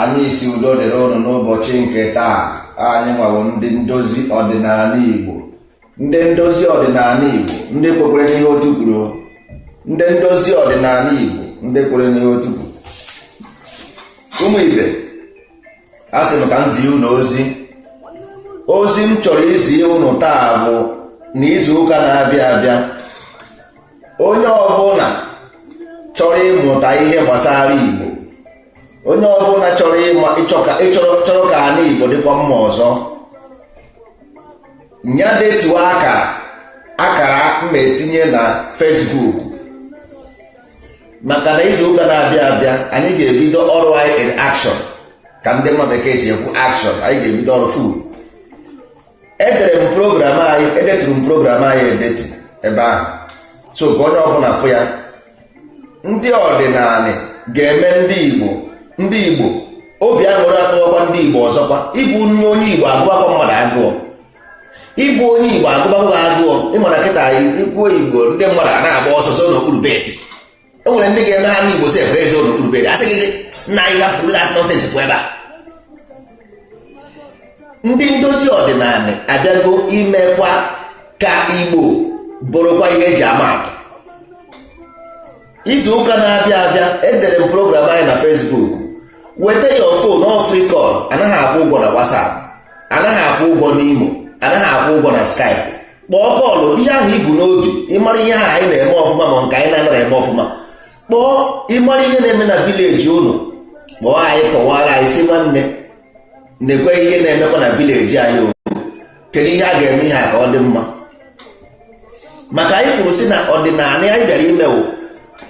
anyị sị udo dịrị ụnụ n'ụbọchị nke taa anyị nwa wụ ndị ndozi ọdịnala Igbo ndị ndozi ọdịnala Igbo ndị kwekwere n'ihe otu kwuru ndị ndozi ọdịnala Igbo ndị kwere n'ihe otu kwuru ụmụ ibe a sị m ka m zie ụnụ ozi ozi m chọrọ izi ụnụ taa bụ na izu ụka na-abịa abịa onye ọbụla chọrọ ịmụta ihe gbasara Igbo onye ọbụla chọrọ ịma chọrọ ka ana Igbo dịkwa mma ọzọ nya detuo akara akara ma etinye na Facebook maka na izu ụka na-abịa abịa anyị ga-ebido ọrụ anyị in action ka ndị nwa bekee si ekwu action anyị ga-ebido ọrụ full edere m program anyị edeturu m program anyị edetu ebe ahụ so ka onye ọbụla fụ ya ndị ọdịnala ga-eme ndị igbo ndị igbo obi aṅụrị atọwakwa ndị igbo ọzọkwa ịbụ onye igbo agụbakwa mmadụ agụụ ịbụ onye igbo agụbakwa agụụ ị ma na kịta i kwuo igbo ndị mmadụ ana-agba ọsọ zoo n'okpuru bed e nwere ndị ga-eme ha n'igbo sef ezoo n'okpuru bed a sị gị nna anyị hapụrụ that nonsense pụ ebe a ndị ndozi ọdịnala abịago imekwa ka igbo bụrụkwa ihe e ji ama atụ izu ụka na-abịa abịa edere m program anyị na Facebook weta ya o phone ọ free call anaghị akwụ ụgwọ na WhatsApp anaghị akwụ ụgwọ n'Imo anaghị akwụ ụgwọ na Skype kpọọ call ihe ahụ i bu n'obi ịmara ihe ahụ anyị na-eme ọfụma ma nke anyị na-anaghị eme ọfụma kpọọ ịmara ihe na-eme na village unu kpọọ anyị kọwara anyị sị nwanne nekwe ihe na-emekwa na village anyị o kedu ihe a ga-eme ihe a ka ọ dị mma maka anyị kwuru sị na ọdịnala anyị bịara ime wụ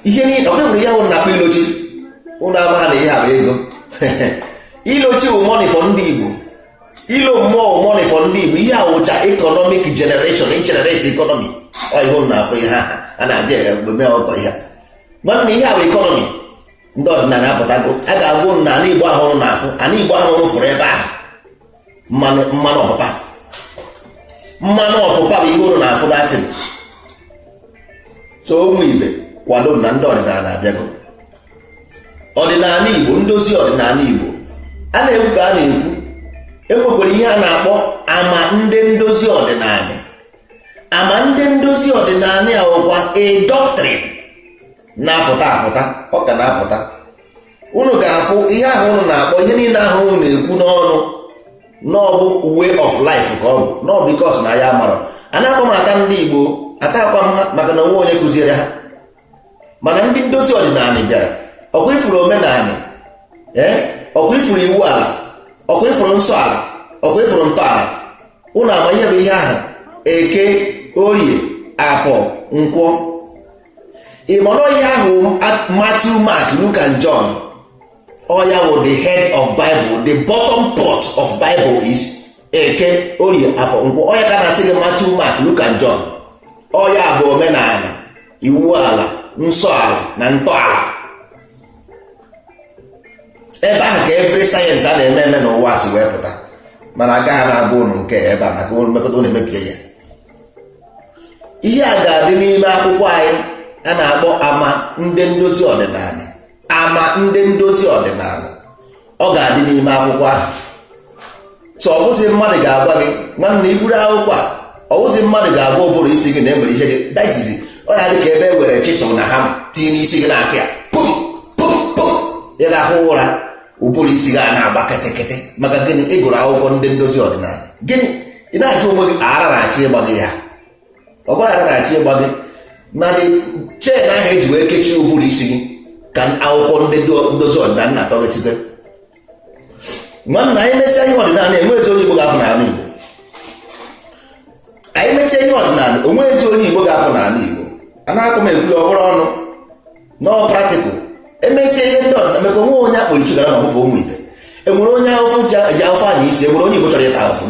ihe niile ọ kebụrụ ihe ụnụ na-akpọ ilochi ụnụ amaha na ihe a bụ ego ilochi wụ money for ndị Igbo ilo mmụọ money for ndị Igbo ihe a wụcha economic generation generate economy ọ ihe ụnụ na-afụ ihe ahụ a na-aja eme ọgọ ihe nwanne ihe a bụ economy ndị ọdịnala apụtago a ga-agwa ụnụ na ala Igbo ahụ ụnụ na-afụ ala Igbo ahụ ụnụ fụrụ ebe ahụ mmanwụ mmanwụ ọpụpa mmanwụ ọpụpa bụ ihe ụnụ na-afụ datin so ụmụ ibe kwadoo na ndị ọdịnala abịago ọdịnala igbo ndozi ọdịnala igbo a na-ekwu ka a na-ekwu enwekwara ihe a na-akpọ ama ndị ndozi ọdịnala ama ndị ndozi ọdịnala ya wụkwa a doctrine na-apụta apụta ọ ka na-apụta unu ga-afụ ihe ahụ unu na-akpọ ihe niile ahụ unu na-ekwu n'ọnụ na ọ bụ way of life ka ọ bụ na ọ because na ya mara a na-akpọ m ata ndị igbo atakwa m ha maka na o nwe onye kụziere ha mana ndị ndozi ọdịnala bịara ọkwa ị fụrụ omenala ee ọkwa ị fụrụ iwu ala ọkwa ị fụrụ nsọ ala ọkwa ị fụrụ ntọala ụnụ ama ihe bụ ihe ahụ eke orie afọ nkwọ ịmọrọ ihe ahụ Matthew Mark Luke and John ọ ya wụ the head of Bible the bottom pot of Bible is eke orie afọ nkwọ ọ ya ka na-asị gị Matthew Mark Luke and John ọ ya bụ omenala iwu ala nsọ ala na ntọala ebe ahụ ka every sayensị a na-eme eme n'ụwa si wee pụta mana agaghị na-agwa ụnụ nke ebe a maka ụnụ mekata ụnụ emebie ya ihe a ga-adị n'ime akwụkwọ anyị a na-akpọ ama ndị ndozi ọdịnala ama ndị ndozi ọdịnala ọ ga-adị n'ime akwụkwọ ahụ so ọ bụzi mmadụ ga-agwa gị nwanne i buru akwụkwọ a ọ bụzi mmadụ ga-agwa ụbụrụ isi gị na enwere ihe dị that is ọ ya dị ka ebe e were chisel na hammer tinye n'isi gị na-akụ ya pum pum pum ị rahụ ụra ụbụrụ isi gị a na-agba ketekete maka gịnị ị gụrụ akwụkwọ ndị ndozi ọdịnala gịnị ị na-ajụ onwe gị ara na-achọ ịgba gị ya ọ bụrọ ara na-achọ ịgba gị na chain ahụ eji wee kechie ụbụrụ isi gị ka akwụkwọ ndị ndozi ọdịnala na-atọ gị site nwanna anyị mesịa ihe ọdịnala enwezi onye Igbo ga-apụ n'ala Igbo anyị mesịa ihe ọdịnala o nwezi onye Igbo ga-apụ n'ala Igbo a na-akụ m ekwu ya ọ bụrọ ọnụ na ọ practical emesịa ihe ndị ọdịnala mekwa onwe onye akpụrụ chugara ma ọ bụ ụmụ ibe enwerọ onye ahụfụ ji ahụfụ anya isi enwere onye Igbo chọrọ ịta ahụfụ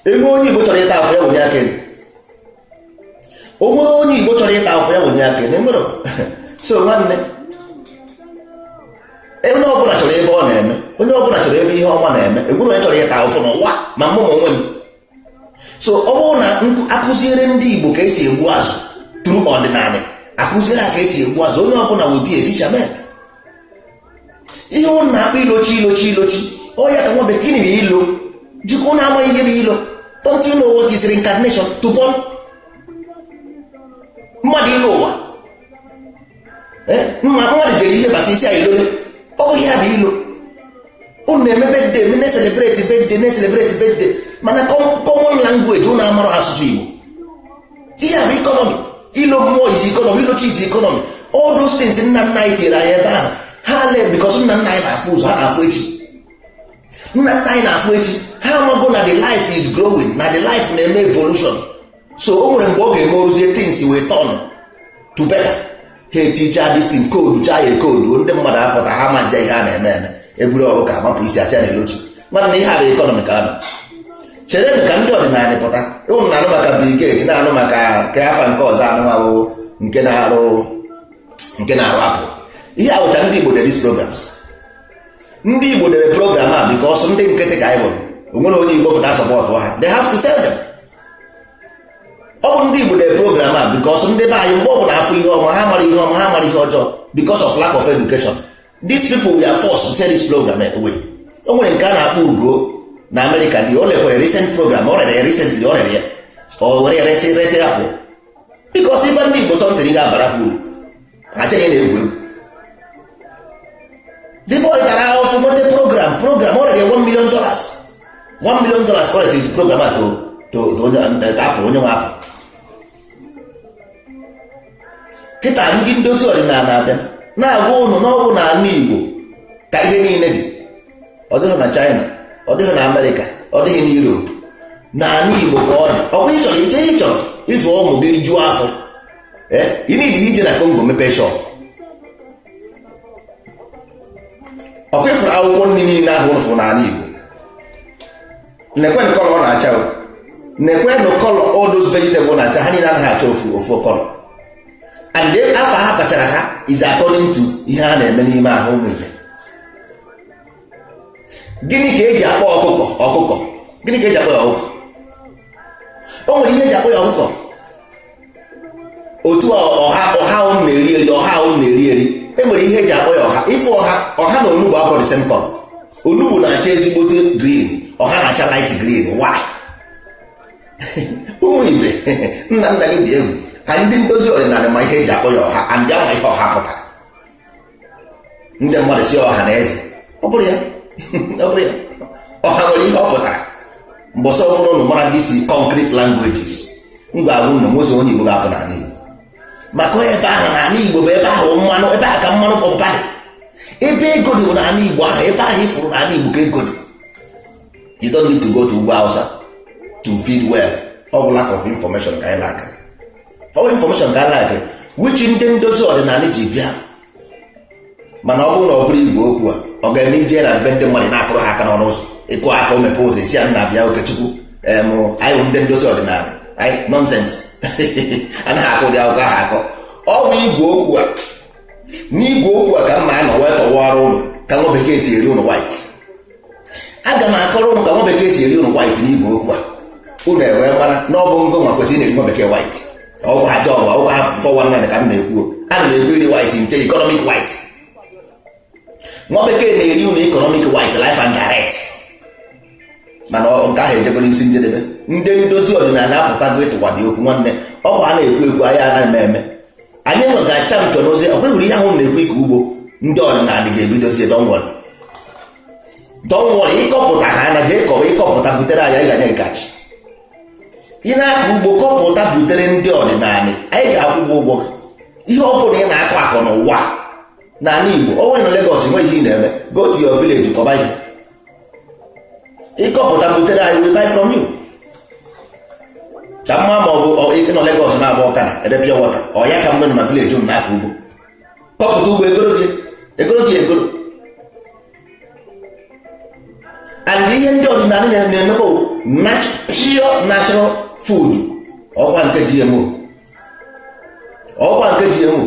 enwere onye igbo chọrọ ịta ahụfụ ya wenye aka elu o nwere onye igbo chọrọ ịta ahụfụ ya wenye aka elu enwerọ so nwanne onye ọbụla chọrọ ebe ọ na-eme onye ọbụla chọrọ ebe ihe ọma na-eme enwerọ onye chọrọ ịta ahụfụ n'ụwa ma mụ ma onwe m so ọ bụrụ na akụziere ndị igbo ka esi egbu azụ through ọdịnala akụziere ha ka esi egbu azụ onye ọbụla will be a fisherman ihe ụnụ na-akpọ ịlọ chi ịlọ chi ịlọ chi ọ ya ka nwa bekee na ịlọ jikwa ụnụ amaghị ihe bụ ịlọ don't you know what is reincarnation to born mmadụ ịlọ ụwa mmadụ jere ije bata ị sị ya ị lọla ọ bụghị ya bụ ịlọ unu na-eme birthday eme na-celebrate birthday na-celebrate birthday mana common language unu amarọ asụsụ Igbo ihe a bụ economy ịlọ mmụọ is economy ịlọ chi is economy all those things nna nna anyị tinyere anyị ebe ahụ ha le because nna nna anyị na-afụ ụzọ ha na-afụ echi nna nna anyị na-afụ echi ha amago na the life is growing na the life na-eme evolution so o nwere mgbe ọ ga-eme o ruzie things wee turn to better ha eticha this thing code chaa ya code ndị mmadụ apụta ha mazi ihe a na-eme eme eburu ọgụ ka agbapụ isi asị a na-elochi nwanne ihe a bụ economy ka a nọ chere m ka ndị ọdịnala pụta ụnụ na-anụ maka Bill Gates na-anụ maka nke afa nke ọzọ anụ ahụ nke na-arụ nke na-arụ Apple ihe a bụcha ndị Igbo dere these programs ndị Igbo dere program a because ndị nkịtị ka anyị bụ o nwerọ onye Igbo pụta sọpọtụ ha they have to sell them ọ bụ ndị Igbo dere program a because ndị be anyị mgbe ọ bụla afụ ihe ọma ha mara ihe ọma ha mara ihe ọjọọ because of lack of education these people were forced to sell this program away o nwere nke a na-akpọ ugo na Amerịka dị o lekwere recent program o rere ya recently o rere ya o were ya resị resị ya Apple because ife ndị Igbo something ga-abara ha uru achọghị na-egwu egwu the boy tara ahụfụ nweta program program o rere 1 million dollars 1 million dollars o resiri program a to to to onye eh, to Apple onye nwe Apple kịta ndị ndozi ọdịnala abịa na-agwa ụnụ na ọ bụ na ala igbo ka ihe niile dị ọ dịghị na china ọ dịghị na amerịka ọ dịghị na europe na ala igbo ka ọ dị ọ bụ ịchọrọ ike ịchọrọ ịzụ ụmụ gị juo afọ eh, ị nidi ije na Congo mepee shop ọkwa ịfụrụ akwụkwọ nri niile ahụ ụnụ fụrụ n'ala igbo nekwenụ color ọ na-acha nekwenụ color all those vegetables na-acha ha niile anaghị acha ofu ofu color and then afa a kpọchara ha is according to ihe ha na-eme n'ime ahụ ụmụ ibe gịnị ka eji akpọ ọkụkọ ọkụkọ gịnị ka eji akpọ ya ọkụkọ o nwere ihe eji akpọ ya ọkụkọ otu a ọha unu na-eri eri ọha unu na-eri eri e nwere ihe eji akpọ ya ọha ịfụ ọha ọha na onugbu abụrọ the same color onugbu na-acha ezigbote green ọha na-acha light green why ụmụ ibe nna nna gị dị egwu ka ndị ndozi ọdịnala ma ihe eji akpọ ya ọha and a ma ihe ọha pụtara ndị mmadụ sị ọha na eze ọ bụrọ ya ọ bụrọ ya ọha nwere ihe ọ pụtara mbọsị ọhụrụ ụnụ mara these concrete languages m ga-agwa ụnụ o nwezirọ onye Igbo ga-apụ n'ala Igbo maka na ebe ahụ n'ala Igbo bụ ebe ahụ mmanụ ebe ahụ ka mmanụ pọpụta dị ebe ego dị bụ n'ala Igbo ahụ ebe ahụ ịfụrụ n'ala Igbo ka ego dị you don't need to go to ugwu Hausa to feed well ọ bụ lack of information ka anyị lack ọ bụ information ka anyị lack which ndị ndozi ọdịnala ji bịa mana ọ bụrụ na ọ bụrọ igwe okwu a ọ ga-eme ije na be ndị mmadụ na-akụrụ ha aka n'ọnụ ụzọ ị kụọ aka o mepe ụzọ ị sị ya nna bịa okechukwu em anyị bụ ndị ndozi ọdịnala anyị nonsense anaghị akọ ụdị akụkọ ahụ akọ ọ bụ igwe okwu a n'igwe okwu a ka m ga-anọ wee kọwara ụnụ ka nwa bekee si eri ụnụ white aga m akọrọ ụnụ ka nwa bekee si eri ụnụ white n'igwe okwu a ụnụ ewee mara na ọ bụ ngị nwa kwesịrị na-eri nwa bekee white ọ bụrọ job ọ bụrọ four one nine ka m na-ekwu ana m ekwu iri white nke economic white nwa bekee na-eri ụnụ economic white live and direct mana nke ahụ ejebego isi njedebe ndị ndozi ọdịnala apụtago ịtụwa dị okwu nwanne ọkwa a na-ekwu ekwu anyị ana-eme eme anyị nwa ga-achampion ozi ọ bụrụ ihe ahụ na-ekwu ịkọ ugbo ndị ọdịnala ga-ebidozie don't worry don't worry ịkọpụta ha na jee kọwa ịkọpụta butere anyị anyị ga-enye gị cash ị na-akọ ugbo kọpụta butere ndị ọdịnala anyị ga-akwụ ụgwọ ụgwọ gị ihe ọ bụla ị na-akọ akọ n'ụwa n'ala Igbo ọ nwere na Lagos nweghị ihe ị na-eme go to your village kọba ihe ịkọpụta butere anyị we buy from you ka mma ma ọ bụ ịnọ Lagos na-agba ọkada ere pure water ọ ya ka mgbe na village ụnụ na-akọ ugbo kọpụta ugbo egoro gị egoro gị egoro and ihe ndị ọdịnala na-emebe pure natural food ọkwa nke GMO ọ bụrọ nke GMO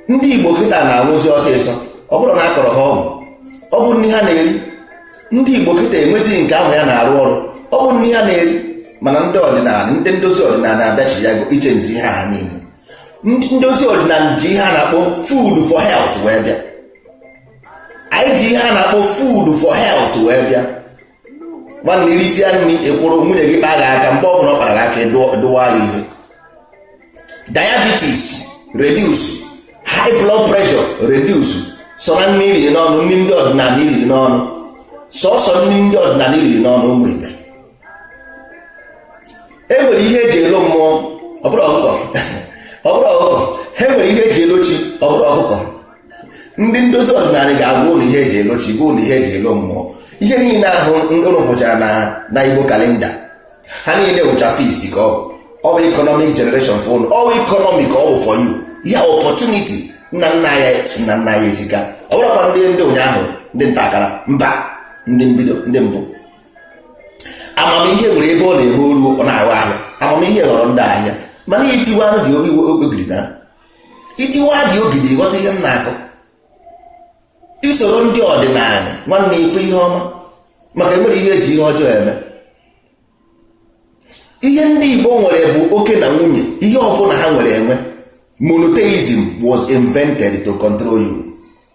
ndị igbo kịta na-anwụzi ọsịsọ ọ bụrọ na a kọrọ ha ọgwụ ọ bụ nri ha na-eri ndị igbo kịta enwezighị nke amụ ya na-arụ ọrụ ọ bụ nri ha na-eri mana ndị ọdịnala ndị ndozi ọdịnala abịachi ya bụ ịchange ihe a niile ndị ndozi ọdịnala ji ihe a na-akpọ food for health wee bịa anyị ji ihe a na-akpọ food for health wee bịa nwanne irisia nri ikwuru nwunye gị kpa gị aka mgbe ọ bụla ọ kpara gị aka ịdụwa ya ihe diabetes reduce high blood pressure reduce sọ na nri iriri n'ọnụ nri ndị ọdịnala iriri n'ọnụ sọsọ nri ndị ọdịnala iriri n'ọnụ ụmụ ibe e nwere ihe eji elo mmụọ ọ bụrọ ọkụkọ ọ bụrọ ọkụkọ e nwere ihe eji elo chi ọ bụrọ ọkụkọ ndị ndozi ọdịnala ga-agwa ụnụ ihe eji elo chi gwa ụnụ ihe eji elo mmụọ ihe niile ahụ ụnụ fụchara na na igbo calendar ha niile wụcha feast ka ọ bụ ọ bụ economic generation for ụnụ ọ bụ economic ọ bụ for you ya opportunity nna nna ya nna nna ya eziga ọ bụrọkwa ndị ndị ụnyaahụ ndị nta akara mba ndị mbido ndị mbụ amamihe nwere ebe ọ na-ehu oru ọ na-ahụ ahịa amamihe ghọrọ ndị ahịa mana itiwa dị ogidi na itiwa dị ogidi ịghọta ihe m na-akọ isoro ndị ọdịnala nwanne ịfụ ihe ọma maka enwere ihe eji ihe ọjọọ eme ihe ndị Igbo nwere bụ oke na nwunye ihe ọbụla ha nwere enwe monotheism was invented to control you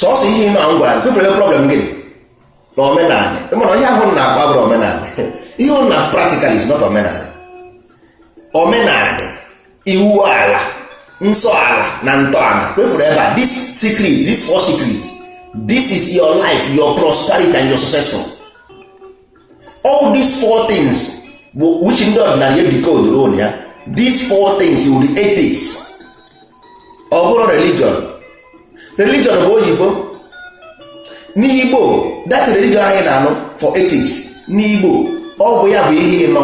sọsọ ihe ịma m gwara gụfere ebe problem gị dị na omenala mana ihe ahụ ị na-akpọ bụrọ omenala ihe ọ na practical is not omenala omenala iwu ala nsọ ala na ntọala kwa ị fụrụ ebe a this secret this four secret this is your life your prosperity and your successful all these four things bụ which ndị ọdịnala edecoderọ ya these four things wụ the ethics ọ bụrọ religion religion bụ oyibo n'igbo that religion anyị na-anụ four ethics n'igbo ọ bụ ya bụ ihe ị nọ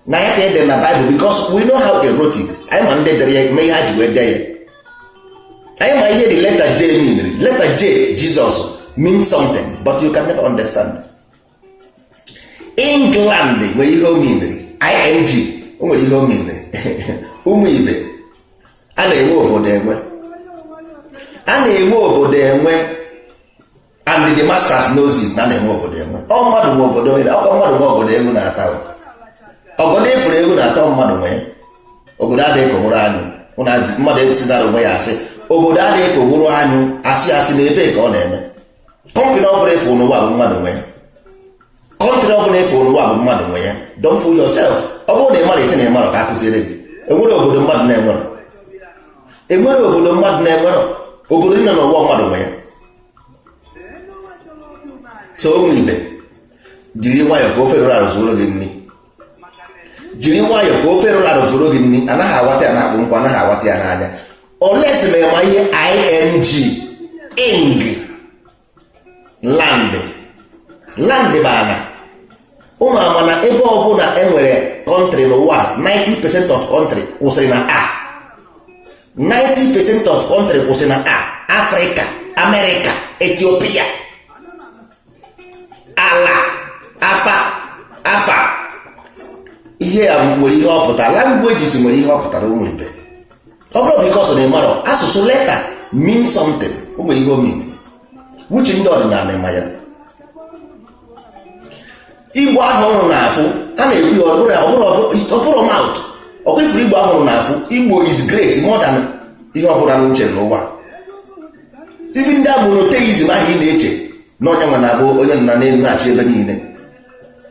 na ya ka e dere na Bible because we know how they wrote it anyị ma ndị dere ya ma ihe ha ji wee dee ya anyị ma ihe the letter J mean letter J Jesus means something but you can never understand England nwere ihe o meaniri ing o nwere ihe o meaniri ụmụ ibe a na-enwe obodo enwe a na-enwe obodo enwe and the masters knows it na a na-enwe obodo enwe ọ mmadụ nwe obodo enwe ọ kwa mmadụ nwe obodo egwu na-atụ obodo ị fụrụ egwu na-atụ mmadụ nwe obodo adịghị ka ogboro anyụ mana mmadụ ekwesịdara onwe ya asị obodo adịghị ka ogboro anyụ asị asị na ebe ka ọ na-eme country ọ bụla ị fụ n'ụwa bụ mmadụ nwe ya country ọ bụla ị fụ n'ụwa bụ mmadụ nwe ya don't fool yourself ọ bụrụ na ị marọ ị sị na ị marọ ka a kuziere gị enwerọ obodo mmadụ na-enwerọ enwerọ obodo mmadụ na-enwerọ obodo dị na n'ụwa mmadụ nwe ya so ụmụ ibe jiri nwayọọ ka ofe rụrụ arụ zuoro gị nri jiri nwayọọ ka ofe rụrụ arụ zuoro gị nri anaghị awata ya na-akpụ nkwa anaghị awata ya n'anya unless ma ị ma ihe ing ing land land bụ ana ị ma ama na ebe ọbụla e nwere country n'ụwa 90 percent of country kwụsịrị na A 90 percent of country kwụsịrị na A Africa America Ethiopia ala afa ihe a nwere ihe ọ pụtara languages nwere ihe ọ pụtara ụmụ ibe ọ bụrụ because na ị marọ asụsụ letter mean something o nwere ihe o mean which ndị ọdịnala ma ya igbo ahụ unu na-afụ a na-ekwu ya ọ bụrọ mouth ọ kwa ị fụrụ igbo ahụ unu na-afụ igbo is great more than ihe ọbụla unu che n'ụwa even ndị a monotheism ahụ ị na-eche na onye nwa na-abụ onye nọ n'enu na-achị ebe niile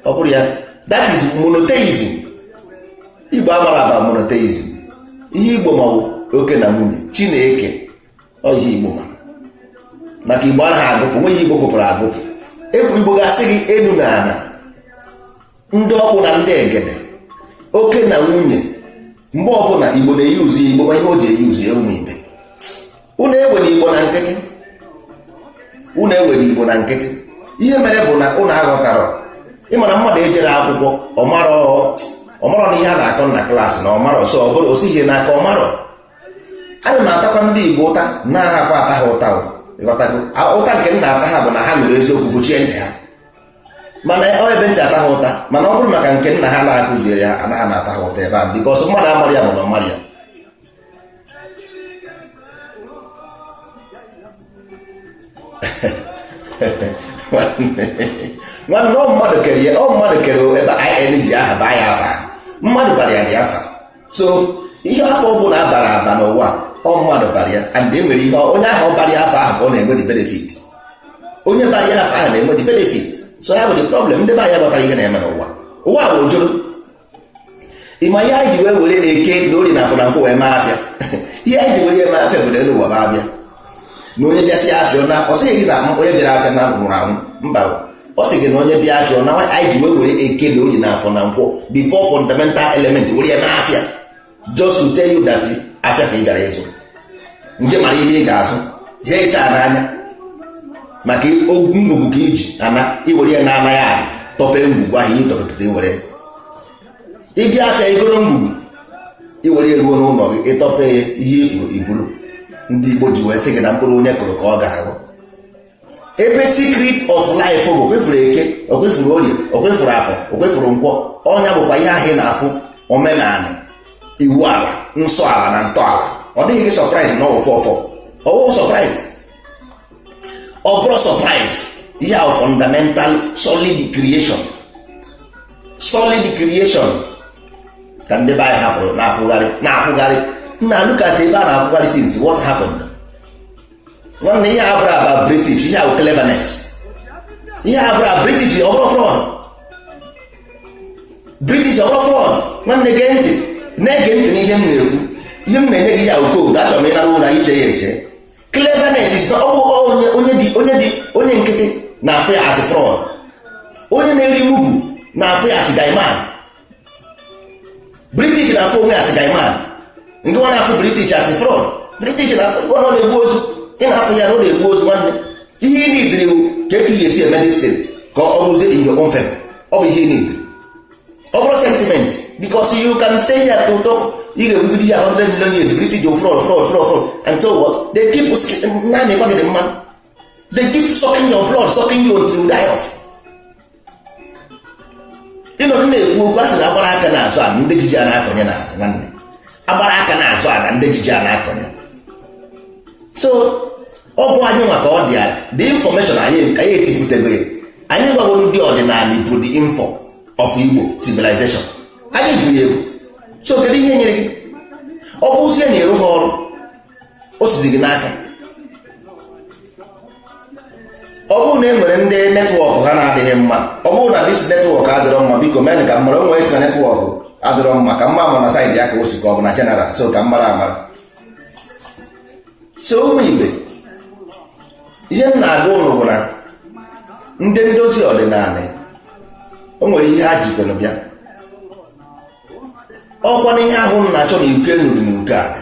ọ bụrọ ya that is monotheism igbo amarọ aba monotheism ihe igbo ma bụ oke na nwunye chi na eke ọ ihe igbo ma maka igbo anaghị agụpụ nweghị ihe igbo gụpụrụ agụpụ ebu igbo ga-asị gị enu na ana ndị ọkpụ na ndị egede oke na nwunye mgbe ọbụla igbo na-euse igbo ma ihe o ji euse ya ụmụ ibe unu ewere igbo na nkịtị unu ewere igbo na nkịtị ihe mere bụ na unu aghọtarọ ị ma na mmadụ ejerọ akwụkwọ ọmarọ na ihe a na-akọ na klaasị na ọmarọ so ọ bụrọ o sighi n'aka ọmarọ ana m atakwa ndị igbo ụta anahakwa m ata ha ụta ụta nke m na-ata ha bụ na ha nụrụ eziokwu fụchie ntị ha mana ọ ebe m ji ata ha ụta mana ọ bụrụ maka nke nna ha na-akụziere ha anaghị m ata ha ụta ebe a bikọs mmadụ amarọ ya bụ na ọmarọ ya nwanne ọ mmadụ kere ya ọ mmadụ kere ebe anyị ji aha baa ya afa mmadụ bara ya dị afa so ihe afa ọ bụla a bara aba n'ụwa ọ mmadụ bara ya and e nwere ihe onye ahụ ọ bara ya afa ahụ ọ na-enwe the benefit onye bara ya afa ahụ na-enwe the benefit so ya bụ the problem ndị be anyị amataghị ihe na-eme n'ụwa ụwa bụ ojoro ịma ihe anyị ji wee were eke na orie na afọ na nkwọ wee mee afịa ihe anyị ji were ya mee afịa bụ na elu ụwa bụ afịa na onye bịasịa afịa naa ọ sịghị gị na onye bịara afịa na nwụrụ anwụ mba ọ sị gị na onye bịa afịa naa anyị ji wee were eke na orie na afọ na nkwọ the four fundamental element were ya mee afịa just to tell you that afịa ka ị gara ịzụ jee mara ihe ị ga-azụ jee ịsa ana anya maka ngwugwu ka iji ana iwere ya na anaghị atọpe ngwugwu ahụ ihe tọpụta iwere ị bịa afịa igoro ngwugwu iwere ya ruo n'ụlọ gị ịtọpe ya ihe ị fụrụ iburu ndị Igbo ji wee sị gị na mkpụrụ onye kụrụ ka ọ ga-aghọ ebe secret of life bụ okwefuru eke okwefuru orie okwefuru afọ okwefuru nkwọ ọ nya bụkwa ihe ahụ ị na-afụ omenala iwu ala nsọ ala na ntọala ọ dịghị gị surprise na ọwụfọ ọfọ ọwụ surprise ọ bụrọ surprise ihe ahụ fundamental solid creation solid creation ka ndị be anyị hapụrụ na-akwụgharị na-akwụgharị nna look at ebe a na-akwụgharị since what happened nwanne ihe a abụrọ about british ihe a wụ cleverness ihe a abụrọ about british ọ bụrọ fraud british ọ bụrọ fraud nwanne gee ntị na-ege ntị n'ihe m na-ekwu ihe m na-enye gị ihe a wụ code achọrọ m ị na-ara ụra i chee ya eche cleverness is not ọ bụ onye onye dị onye dị onye nkịtị na-afụ ya as fraud onye na-eri mugu na-afụ ya as guyman british na-afụ onwe as guyman gị nwa na-afụ british as fraud british na-afụ ọ na-egbu ozu ị na-afụ ya na ọ na-egbu ozu nwanne ihe ị nidiri bụ ka etu ị ga-esi eme this thing ka ọ rụzie in your own favor ọ bụ ihe ị nidiri ọ bụrọ sentiment because you can stay here to talk ị ga-ekwugide ya 100 million years british fraud fraud fraud fraud and so what they keep nanị gwa gị dị mma they keep sucking your blood sucking you until you die off ị nọdụ na-ekwu okwu a sị na agbara aka na-azọ ala ndị ji ji a na-akọnye na nwanne agbara aka na-azọ ala ndị ji ji a na-akọnye so ọ bụ anyị nwa ka ọ dị ala the information anyị anyị etipụtebere anyị gwagoro ndị ọdịnala bụ the info of Igbo civilization anyị bụ ya egwu so kedu ihe nyere gị ọ bụzie na ịrụ ha ọrụ o sizi gị n'aka ọ bụrụ na e nwere ndị netwọk ha na-adịghị mma ọ bụrụ na dis netwọk adịrọ mma biko mee ka m mara o nwere sị na netwọk adịrọ mma ka m ma ama na saịdị ya ka o si ka ọ bụ na jeneral so ka m mara amara so ụmụ ibe ihe m na-agwa ụnụ bụ na ndị ndozi ọdịnala o nwere ihe ha jikwenụ bịa ọkwa na ihe ahụ na-achọ n'uko enu dị n'uko ala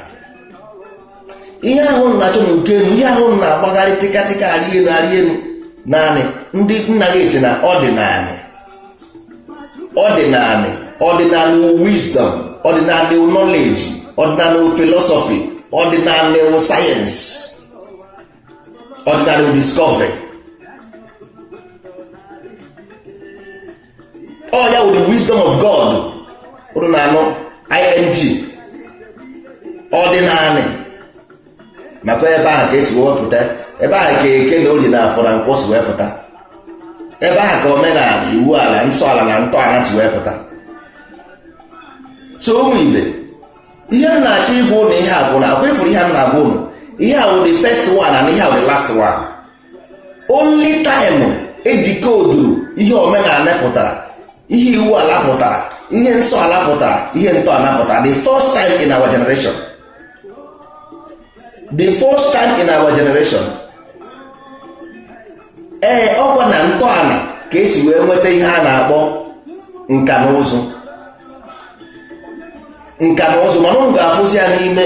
ihe ahụ na-achọ n'uko enu ihe ahụ na-agbagharị tịkatịka arị enu arị enu naanị ndị nna gị sị na ọdịnanị ọdịnanị ọdịnanị wụ wisdom ọdịnanị wụ knowledge ọdịnanị wụ philosophy ọdịnanị wụ sayensị ọdịnanị wụ discovery ọ ya wụ the wisdom of god ọdịnanị ing ọdịnanị nakwa ebe ahụ ka e si wee pụta ebe ahụ ka eke na olie na afọ na nkwọ si wee pụta ebe ahụ ka omenala iwu ala nsọ ala na ntọala si wee pụta so ụmụ ibe ihe m na-achọ ịgwa ụnụ ihe a bụ na ọkwa ị fụrụ ihe m na-agwa ụnụ ihe a wụ the first one and ihe a wụ the last one only time e decoderu ihe omenala pụtara ihe iwu ala pụtara ihe nsọ ala pụtara ihe ntọala pụtara the first time in our generation the first time in our generation ee ọkwa na ntọala ka e si wee nweta ihe a na-akpọ nka na ụzụ nka na ụzụ mana ụnụ ga-afụzi ya n'ime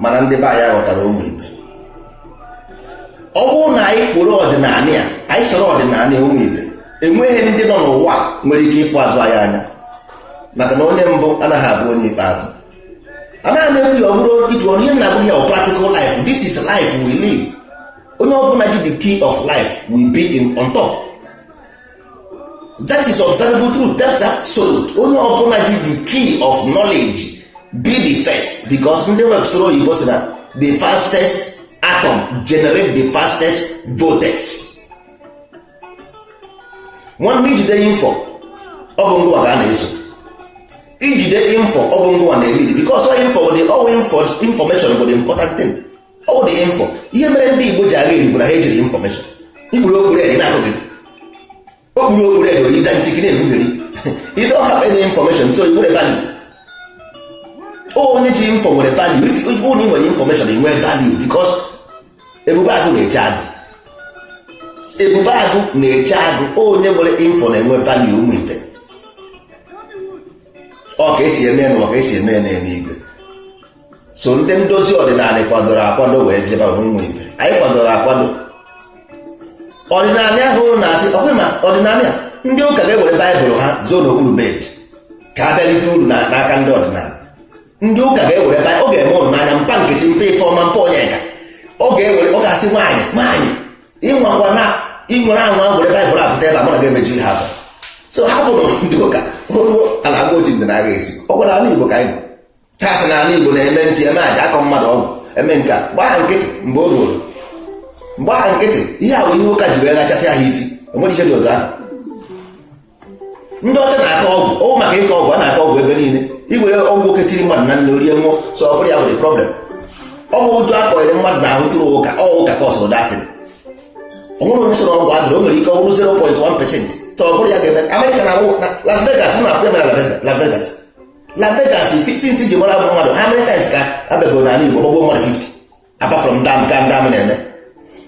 mana ndị be anyị ghọtara ụmụ ibe ọ bụrụ na anyị kpụrụ ọdịnala ya anyị soro ọdịnala ụmụ ibe enweghị ndị nọ n'ụwa nwere ike ịfụ azụ anyị anya maka na onye mbụ anaghị abụ onye ikpeazụ anaghị m ekwu ya ọ bụrọ ịtụ ọnụ ihe m na-agwa gị ọ practical life this is life we live onye ọbụla ji the key of life will be on top that is observable truth that's absolute onye ọbụla ji the key of knowledge be the first because ndị wepụsịrị oyibo sị na the fastest atom generate the fastest vortex nwanne i jide info ọ bụ ngịwa ka a na-eso i jide info ọ bụ ngịwa na-elidi because info bụ the all information bụ the important thing ọ dị info ihe mere ndị Igbo ji aghara Igbo na ha ejiri infọmeshọn mkpụrụ okpuru eri na-ahụghị okpuru okpuru eri oyi da nchiki na-egbu gị eri you don't have any infọmeshọn so i nwere value onye ji info nwere value if onye ị nwere infọmeshọn i nwee value because ebube agụ na-eche agụ ebube agụ na-eche agụ onye nwere info na-enwe value ụmụ Igbo ọ ka esi eme n'ụwa ka esi eme na eluigwe so ndị ndozi ọdịnala kwadoro akwado wee jebe ụmụ Igbo anyị kwadoro akwado ọdịnala ahụ na-asị ọkwa ma ọdịnala a ndị ụka ga-ewere baịbụl ha zoo n'okpuru bed ka ha bịa rite uru na- n'aka ndị ọdịnala ndị ụka ga-ewere baịbụl ọ ga-eme ụnụ n'anya mpa nkechi mpa ife ọma mpa onyeka ọ ga-ewere ọ ga-asị nwaanyị nwaanyị ịnwakwana ị nwaa anwa were baịbụl apụta ebe a mụ na ga-emeju ihe afọ so ha bụrụ ndị ụka ruo ala agwa oji ndị na-agha asị ọ gwara ala igbo ka anyị nọ. ha sị na ala Igbo na-eme nsi eme aja akọ mmadụ ọgwụ eme nke a gbaa ha nkịtị mgbe o ruo gbaa ha nkịtị ihe a bụ ihe ụka ji wee gachasị ha isi o nwere ihe dị otu ahụ ndị ọcha na-akọ ọgwụ ọ bụ maka ịkọ ọgwụ a na-akọ ọgwụ ebe niile i were ọgwụ oke tiiri mmadụ na nri o rie nwụọ so ọ bụrọ ya bụ the problem ọ bụ ụjọ a kụnyere mmadụ n'ahụ through ụka ọ ụka cause that thing o nwerọ onye sị na ọgwụ adịrọ o nwere ike ọ bụrụ 0.1 percent so ọ bụrọ ya ga-eme Amerịka na Las Vegas na-apụ ya mere Las Vegas na Vegas since ji mara bụ mmadụ how many times ka a bịago n'ala Igbo gbagbuo mmadụ 50 apart from the nke ndị amị na-eme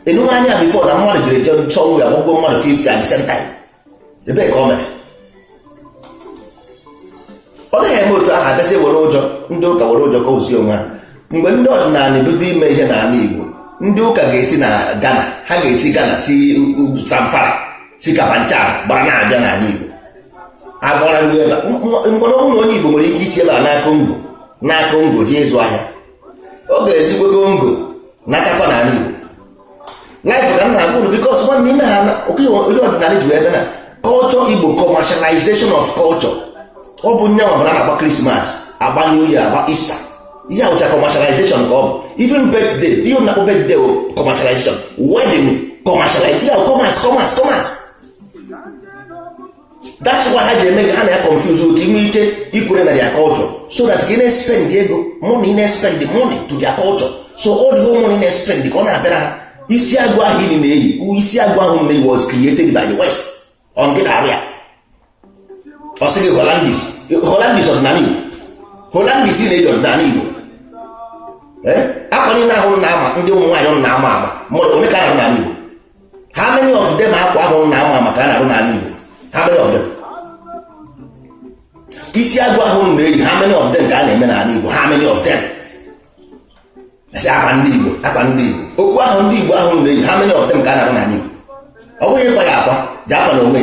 ị nụgo ya before na mmadụ jiri jee chọọchị gbagbuo mmadụ 50 at the same time ebee ka ọ mere ọ naghị eme otu ahụ a bịazi were ụjọ ndị ụka were ụjọ kuzie onwe ha mgbe ndị ọdịnala bido ime ihe n'ala Igbo ndị ụka ga-esi na Ghana ha ga-esi Ghana si Zamfara si Kafanchan gbara na-abịa n'ala Igbo agwara ndị ebe mkpọrọ ọ bụrụ na onye Igbo nwere ike isi ebe a naa Congo naa Congo jee ịzụ ahịa ọ ga-esikwa Congo natakwa na ala Igbo laịfụ ka m na-agwa unu bikos nwa n'ime ha ndị ọdịnala ji ebe na culture Igbo commercialization of culture ọ bụ onye ọbụla na-agba krismas agba new year agba Easter ihe ahụcha commercialization ka ọ bụ even birthday ihe a na-akpọ birthday commercialization wedding commercialization commerce commerce commerce that's why ha ji eme ha na ya confuse ka i nwee ike ikwere na their culture so that ka ị na-espend ego money na-espend the money to their culture so all the whole money na-espend ka ọ na-abịara ha isi agụ ahụ ị na-eyi isi agụ ahụ na was created by the west ọ gị na-arụ ya a sị gị holandis holandis ọdịnala igbo holandis na-eji ọdịnala igbo akwa niile ahụ na-ama ndị ụmụ nwaanyị na-ama ama mmadụ onye ka na-arụ n'ala igbo how many of them akwa ahụ na-ama ama ka a na-arụ n'ala Igbo how many of them isi agụ ahụ na-eyi how many of them ka a na-eme n'ala Igbo how many of them asị akwa ndị Igbo akwa ndị Igbo okpu ahụ ndị Igbo ahụ na-eyi how many of them ka a na-arụ n'ala Igbo ọ bụghị ịkwa ya akwa ji akwa na onwe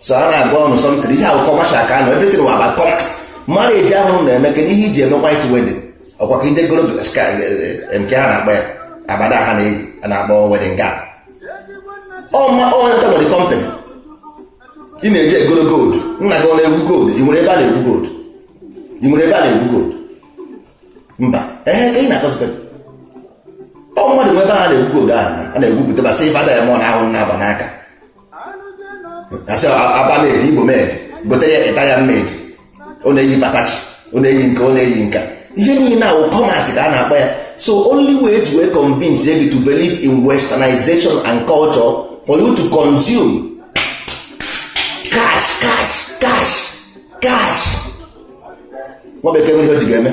so a na-agwa unu something ihe ahụ commercial ka anọ everything wụ about commerce marriage ahụ unu na-eme kedu ihe iji eme white wedding ọkwa ka ije goro nke ha na-akpa ya abada ha na-akpọ wedding gown ọma onye nta nwere company ị na-eje egoro gold nna gị ọ na-egwu gold ị nwere ebe a na-egwu gold ị nwere ebe a na-egwu gold mba ehe ka ị na-akọzikwa ọ mmadụ nwe ebe a na-egwu gold ahụ a na-egwupụta ba silver diamond ahụ na-agba n'aka asị aba made igbo made gotere ya italian made ọ na-eyi versace ọ na-eyi nke ọ na-eyi nke a ihe niile a wụ commerce ka a na-akpọ ya so only way to wee convince you to believe in westernization and culture for you to consume cash cash cash cash nwa bekee nwere ihe o ji ga-eme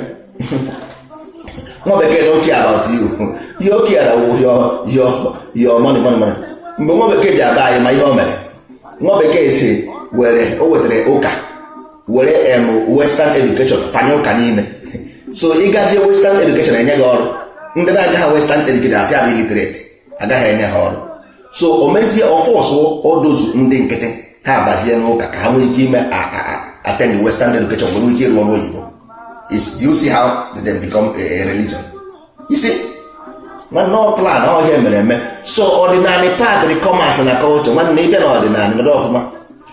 nwa bekee don't care about you ihe o care wụ your your your money money money mgbe nwa bekee ji abịa anyị ma ihe o mere nwa bekee si were o wetara ụka were em western education fanye ụka n'ime so ịgazie western education enye gị ọrụ ndị na-agaghị western education asị ha bụ illiterate agaghị enye ha ọrụ so o mezie ọ force those ndị nkịtị ha abazie n'ụka ka ha nwee ike ime attend western education nwee ike ịrụ ọrụ oyibo is do you see how did they become a religion you see nwanne ọ plan ọ ihe e mere eme so ọdịnala padri commerce na culture nwanne ịbịa na ọdịnala nọdụ ọfụma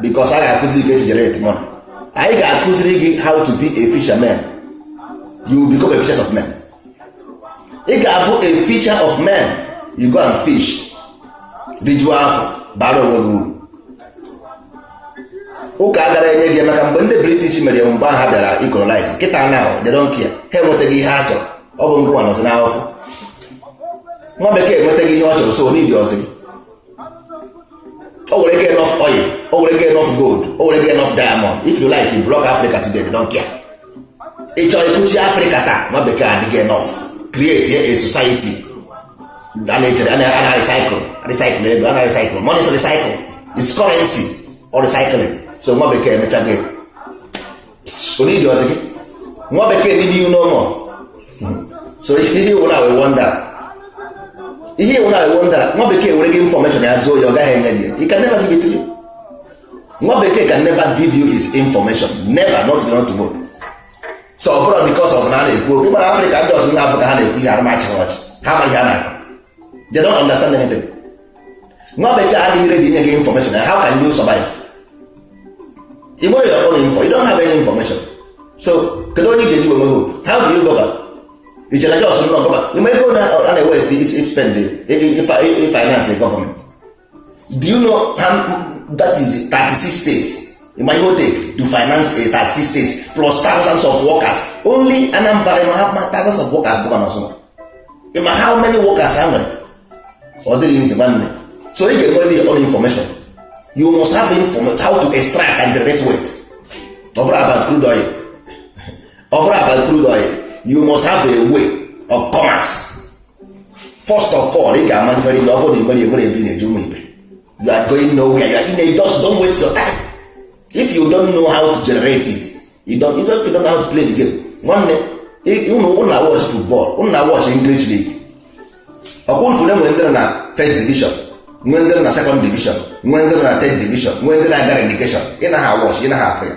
because a ga-akụziri gị generate money anyị ga-akụziri gị how to be a fisherman you become a fisher of men ị ga-abụ a fisher of men you go and fish rijuo afọ bara onwe gị uru ụka agara enye gị maka mgbe ndị british mere mgbe ha bịara ịcolonize kịta na they don't care ha enwetago ihe ha chọrọ ọ bụ ngịwa nọzi n'afụfụ nwa bekee enwetago ihe ọ chọrọ so o needirọzi gị o werego enough oil o werego enough gold o werego enough diamond if you like you block africa today they don't care ị chọọ ịkụchi africa taa nwa bekee adịgo enough create a society a na-echere a na-recycle recycle ego a na-recycle money is recycle is currency or recycling so nwa bekee emechago o needirọzi gị nwa bekee need you no more so ihe iwu na wee wonder ihe iwu na wee wonder nwa bekee were gị information ya zoo ya ọ gaghị enye gị he can never give it to you nwa bekee can never give you his information never not to not tomorrow so ọ bụrụ because of na a na-ekwu okwu mana africa ndị ọzọ na-afụ ka ha na-ekwu ihe ana m achị ha ọchị ha amaghị ihe na-akụ they don't understand anything nwa bekee adịghị ready inye gị information how can you survive ị nwere your own info you don't have any information so kedu onye ga-eji wee nwee hope how do you go back i chere just nọ gọva ị ma ego na a na-ewest spend finance government do you know that is 36 states ma ihe o take to finance 36 states plus thousands of workers only Anambra ma ha thousands of workers bụ na ọsụma ma how many workers ha nwere ọ dịghị easy nwanne so ị ga-enwerịrị your own information you must have information how to extract and generate wealth ọ bụrọ about crude oil ọ bụrọ about crude oil you must have a way of commerce first of all ị ga-ama nkari na ọ bụrụ na ịgbara egbere ebe ị na-eje ụmụ ibe you are going nowhere you are in a dust don't waste your time if you don't know how to generate it you don't, you don't, you don't know how to play the game nwanne ụnụ na watch football ụnụ na watch English league ọ kwa ị fụrụ e nwere ndị nọ first division nwee ndị nọ second division nwee ndị nọ third division nwee ndị na-aga relegation ị na-awatch ị na-afụ ya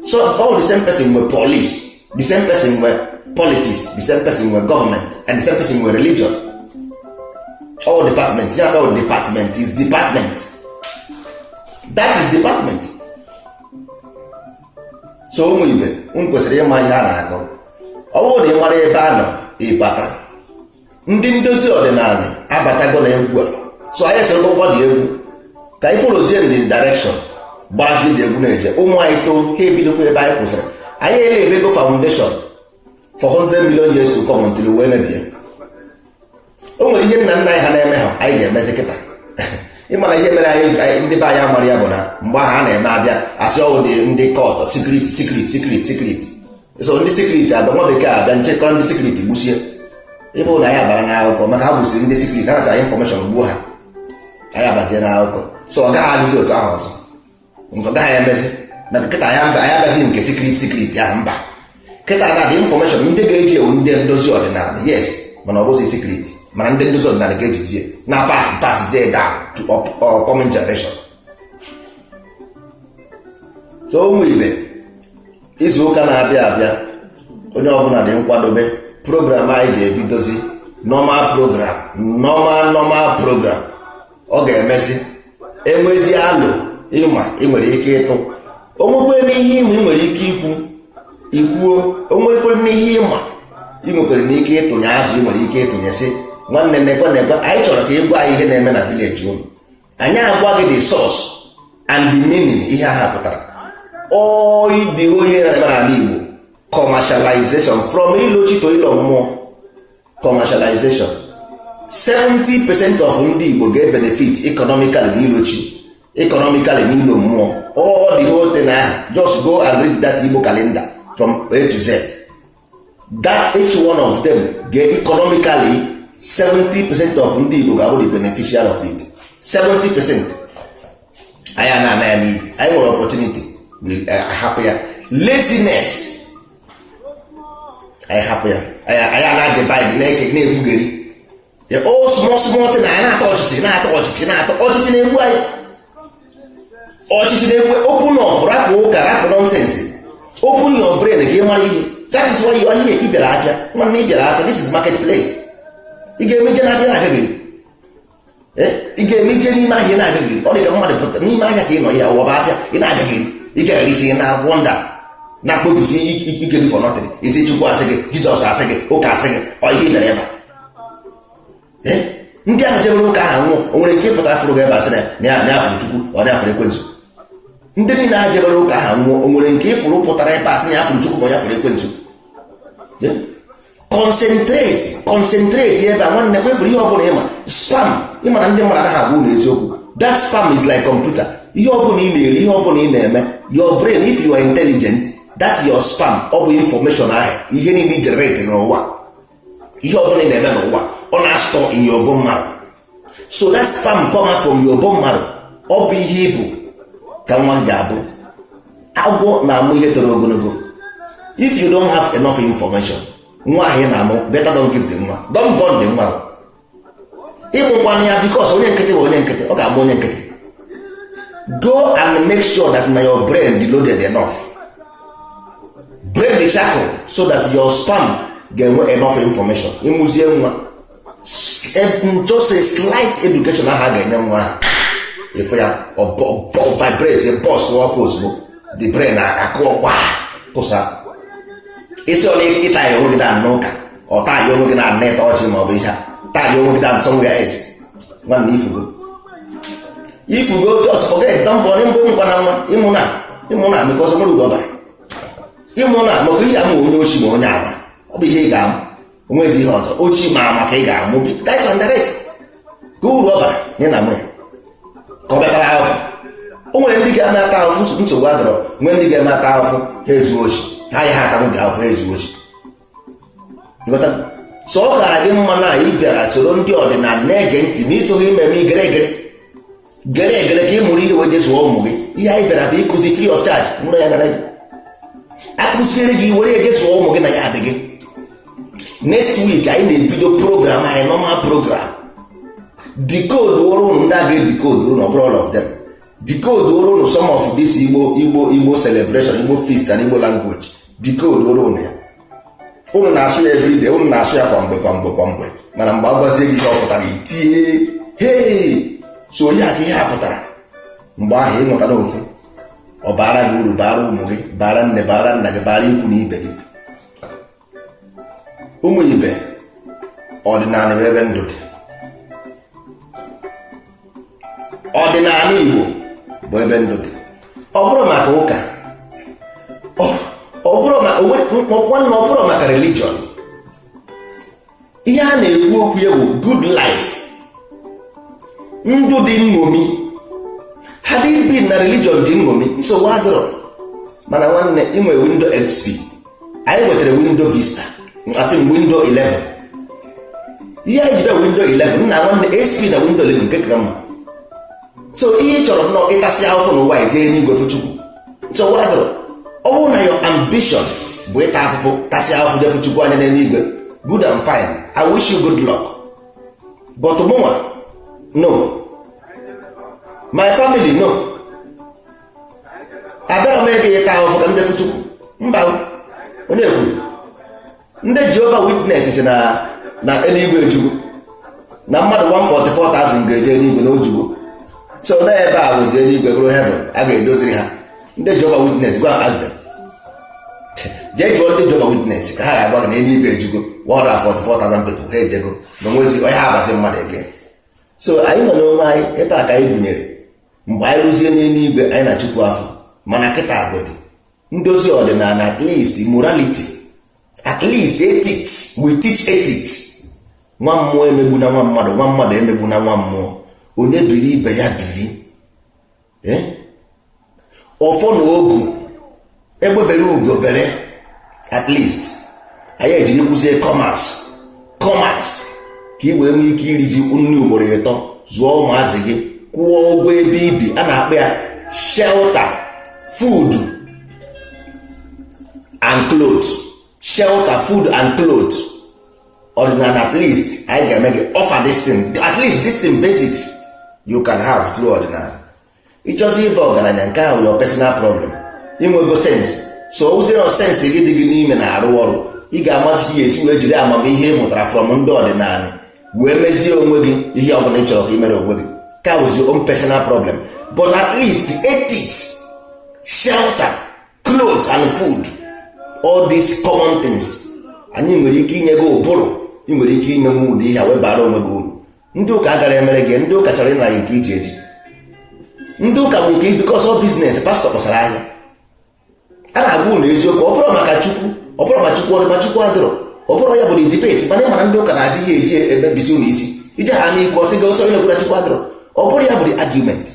so all the same person nwe police the same person nwe politics the same person nwe government and the same person nwe religion all department ya all department is department that is department so ụmụ ibe m kwesịrị ịma ihe a na-akọ ọ bụrụ na ị mara ebe a nọ ịbata ndị ndozi ọdịnala abatago na egwu a so anyị soro ụgbọ dị egwu ka anyị followzie in the direction gbarazi dị egwu na-eje ụmụ anyị too ha ebidokwa ebe anyị kwụsịrị anyị elaybego foundation for 100 million years to come until ụwa emebie o nwere ihe nna nna anyị ha na-eme ha anyị ga-emezi kịta ị ma na ihe mere anyị anyị- ndị be anyị amarọ ya bụ na mgbe ahụ a na-eme abịa asị ọ wụ ndị cult secret secret secret secret so ndị secret abịa nwa bekee abịa chịkọrọ ndị secret gbusie ịbụ na anyị abara n'akụkọ maka ha gbusiri ndị secret ha nacha information gbuo ha anyị abazie n'akụkọ so ọ gaghị adịzi otu ahụ ọzọ nke ọ gaghị emezi na kịta anyị abịazi nke secret secret ahụ mba kịta na the information ndị ga-eji ya wụ ndị ndozi ọdịnala yes mana ọ bụzi secret mana ndị ndozi ọdịnala ga-ejizie na-apass passzie down to upcoming generation so ụmụ ibe izu ụka na-abịa abịa onye ọbụla dị nkwadobe program anyị ga-ebidozi normal program normal normal program ọ ga-emezi e nwezi alo ị ma ị nwere ike ịtụ o nwekwe n'ihe ị ma ị nwere ike ikwu ikwuo o nwekwere n'ihe ị ma ị nwekwere n'ike ịtụnye azụ ị nwere ike ịtụnye sị nwanne nekwe nekwe anyị chọrọ ka ị gwa anyị ihe na-eme na village unu anyị agwa gị the source and the meaning ihe ha pụtara oyi dị ihe na-eme n'ala Igbo commercialization from ilo chi to ilo mmụọ commercialization 70 percent of ndị Igbo ga-ebenefit economically na ilo chi economically na ilo mmụọ all the whole thing ahụ just go and read that Igbo calendar from A to Z that each one of them ga economically 70 percent of ndị Igbo ga-abụ the beneficiary of it 70 percent anyị ana ana ya n'iyi anyị nwere opportunity ahapụ eh, ya laziness anyị hapụ ya anyị ana divide na-eke na-ekwugheri the whole small small thing anyị na-atọ ọchịchị na-atọ ọchịchị na-atọ ọchịchị na-egbu anyị ọchịchị na-egbu open up rapụ ụka rapụ nonsense open your brain ka ị mara ihe that is why you are here ị bịara afịa nwanne ị bịara afịa this is market place ị ga-eme ije n'afịa na-agagharị ị ga-eme ije n'ime ahịa na-agagharị ọ dị ka mmadụ pụta n'ime ahịa ka ị nọ ya ụwa bụ afịa ị na-agagharị ị gagharịsịa na wander na-akpọbisi ike gị for nothing ị sị chukwu a sị gị jizọs a sị gị ụka a sị gị ọ ihe ị bịara ebe a eh? ndị ahụ jebere ụka ahụ nwụọ o nwere nke pụtara fụrụ ebe a sị na ya afụrụ chukwu ọ dị afụrụ ekwensu ndị niile ahụ jebere ụka ahụ nwụọ o nwere nke ị fụrụ pụtara ebe a sị na ya afụrụ chukwu ma ya fụrụ ekwensu eh? concentrate concentrate ebe a nwanne kwefụrụ ihe ọbụla ị ma sperm ị ma na ndị mmadụ anaghị agwa unu eziokwu that sperm is like computer ihe ọbụla ị na-eri ihe ọbụla ị na-eme your brain if you are intelligent that your sperm ọ bụ information ahụ ihe niile generate n'ụwa ihe ọbụla ị na-eme n'ụwa ọ na-astore in your bone marrow so that sperm come out from your bone marrow ọ bụ ihe ị bụ ka nwa ga-abụ agwọ na-amụ ihe toro ogologo if you don't have enough information nwa ahụ ị na-amụ better don't give the nwa don't born the nwa ị mụkwana ya because onye nkịtị bụ onye nkịtị ọ ga-amụ onye nkịtị go and make sure that na your brain dị loaded enough break the shackle so that your sperm ga-enwe enough information ị mụzie nwa just a slight education a ha ga-enye nwa ahụ efe ya vibrate post ọkụ ozugbo the brain akụọkwa kụsa instead of ị tie onwe gị down n'ụka or tie onwe gị down na ịta ọchị ma ọ bụ ị tie onwe gị down somewhere else nwanne ị fụgo ị fụgo just forget don't born ị mụkwana nwa ị mụna ị mụna because o nwerọ uru ọ bara ị mụna maka ị ya-amụ onye oshi ma onye ama ọ bụ ihe ị ga-amụ o nwezi ihe ọzọ oshi ma ama ka ị ga-amụ that's on the rate ka uru ọ bara nye na mụ ya ka ọ bịa tara ahụhụ o nwere ndị ga-eme ata ahụhụ nsogbu adịrọ nwee ndị ga-eme ata ahụhụ ha ezu oshi ha ya ha atanwụ ga ahụhụ ha ezu oshi so ọ gara gị mma na ị bịara soro ndị ọdịnala na-ege ntị ma ị chọghị ime eme i gere egere gere egere ka ị mụrụ ihe wee jee zụọ ụmụ gị ihe anyị bịara bụ ịkụzi free of charge mụrụ ya nara gị akụziere gị were ya jee zụọ ụmụ gị na ya adị gị next week anyị na-ebido program anyị normal program decode ụrụ ụnụ ndị a ga-edecode ụnụ ọ bụrọ all of them decode ụrụ ụnụ some of this igbo igbo igbo celebration igbo feast and igbo language decode ụrụ ụnụ ya ụnụ na-asụ ya everyday ụnụ na-asụ ya kwa mgbe kwa mgbe kwa mgbe mana mgbe a gwazie gị ihe ọ pụtara i tie hei so ọ ya ka ihe a pụtara mgbe ahụ ị mụtara ofu ọ baara gị uru baara ụmụ gị baara nne baara nna gị baara ikwu na ibe gị ụmụ ibe ọdịnala bụ ebe ndụ dị ọdịnala igbo bụ ebe ndụ dị ọ bụrọ maka ụka ọ bụrọ maka nwanne ọ bụrọ maka religion ihe a na-ekwu okwu ya bụ good life ndụ dị nṅomi had it been na religion dị nṅomi nsogbu adịrọ mana nwanne inwe window xp anyị nwetara window vista asị m window 11 ihe anyị jide window 11 nna nwanne xp na window 11 nke ka mma so ihe ị chọrọ nnọọ ịtasị ahụfụ n'ụwa i jee n'igwe fụ chukwu nsogbu adịrọ ọ bụrụ na your ambition bụ ịta afụfụ tasị ahụfụ jee fụ chukwu anya n'eluigwe good and fine i wish you good luck but mụnwa no my family no abịarọ m ebe ịta ahụfụ ka m jee fụ chukwu mba onye kwuru ndị jehovah witness si na na eluigwe ejugo na mmadụ 144,000 ga-eje eluigwe na o jugo so na ebe a bụzi eluigwe bụrụ heaven a ga-edoziri ha ndị jehovah witness go and ask them jee jụọ ndị jehovah witness ka ha ga-agwa gị na eluigwe ejugo 144,000 people ha ejego na onwezi onye ga-abazi mmadụ ege so anyị nọ n'onwe anyị ebe a ka anyị bunyere mgbe anyị ruzie n'eluigwe anyị na chukwu afụ mana kịta agodi ndozi ọdịnala at least morality at least ethics we teach ethics nwa mmụọ emegbuna nwa mmadụ nwa mmadụ emegbuna nwa mmụọ onye biri ibe ya biri ọfọ na ogu egbe bere ugo bere at least anyị ejiri kụzie commerce commerce ka ị wee nwee ike irizi nri ugboro ịtọ zụọ ụmụazị gị kwụọ ụgwọ ebe i bi a na-akpọ ya shelter food and clothes shelter food and clothes ọdịnala at least anyị ga-eme gị offer this thing at least this thing basics you can have through ọdịnala ịchọzi ịba ọgaranya nke a wụ your personal problem inwego sense so ụzịrọ sense gị dị gị n'ime na-arụ ọrụ ị ga-amazi ya esi wee jiri amamihe ị mụtara from ndị ọdịnanị wee mezie onwe gị ihe ọ bụla ị chọrọ ka ị mere onwe gị nke a wụzi your own personal problem but at least ethics shelter clothes and food all these common things anyị nwere ike inye gị ụbụrụ ị nwere ike ime nwee ụdị ihe a wee bara onwe gị uru ndị ụka agarọ emere gị ndị ụka chọrọ ịnara nke i ji eji ndị ụka bụ nke because ọ business pastor kpọsara ahịa a na-agwa ụnụ eziokwu ọ bụrọ maka chukwu ọ bụrọ ma chukwu ọ dị ma chukwu adịrọ ọ bụrọ ya bụ debate mana ịmara ndị ụka na-adị ya eji emebizi ụnụ isi ije ha na-ekwu ọ sị gị ọsọ onye gwara chukwu adịrọ ọ bụrọ ya bụ the argument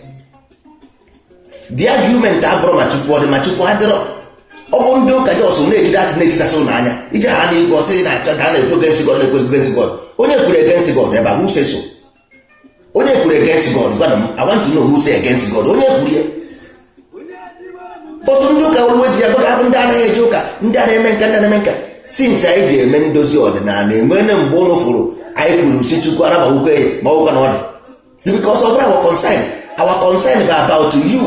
the argument abụrọ ma chukwu ọ dị ma chukwu adịrọ ọ bụ ndị ụka just na-eji that na-etisasị ụnụ anya ije ha na-ekwu ọ sị na achọ ka a na-ekwu against God na-ekwu against God onye kwuru against God ebe a who say so onye kwuru against God gwana m I want to know who say against God onye kwuru ya otu ndị ụka wezi ya gbaga abụ ndị anaghị eje ụka ndị a na-eme nke a ndị a na-eme nke a since anyị ji eme ndozi ọdịnala enwere mgbe ụnụ fụrụ anyị kwuru sị chukwu arabawukwe ya ma ọ wụkwa na ọ dị because ọ bụrọ our concern our concern bụ about you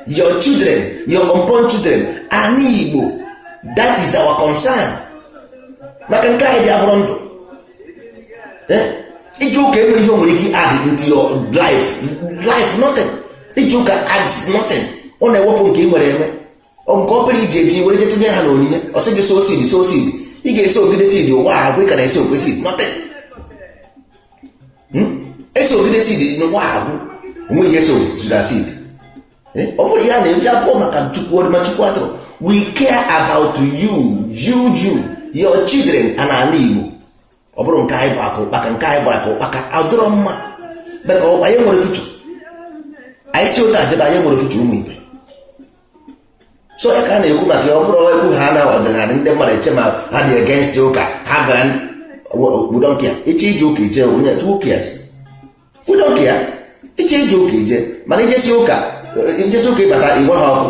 your children your unborn children ana igbo that is our concern maka nke anyị dị abụrọ ndụ eh? ije ụka enwerọ ihe o nwere ike add into your life nothing ije ụka adds nothing ọ na-ewepụ nke ị nwere enwe nke obere i ji eji were je tụnye ha na onyinye ọ sị gị sow seed sow seed ị ga-asowgide seed ụwa agwụ ka na-asowgide seed nọte asowgide seed n'ụwa agwụ o nwe ihe so na seed ọ bụrọ ya na-eji abụrọ maka chukwu ọ dị ma chukwu adịrọ we care about you you you your children and ala igbo ọ bụrụ nke anyị gbara ka ụkpaka nke anyị gbara ka ụkpaka adịrọ mma maka anyị enwerọ future anyị si otu a jebe anyị enwerọ future ụmụ ibe so ya ka a na-ekwu maka ya ọ bụrụ ekwu ha na ọdịnala ndị mmadụ eche ma ha dị against ụka ha gara we don't care ị chọ ije ụka ị jee onye who cares we don't care ị chọ ije ụka ị jee mana ị jesịa ụka ị jesịa ụka ị bata igwe ha ọkụ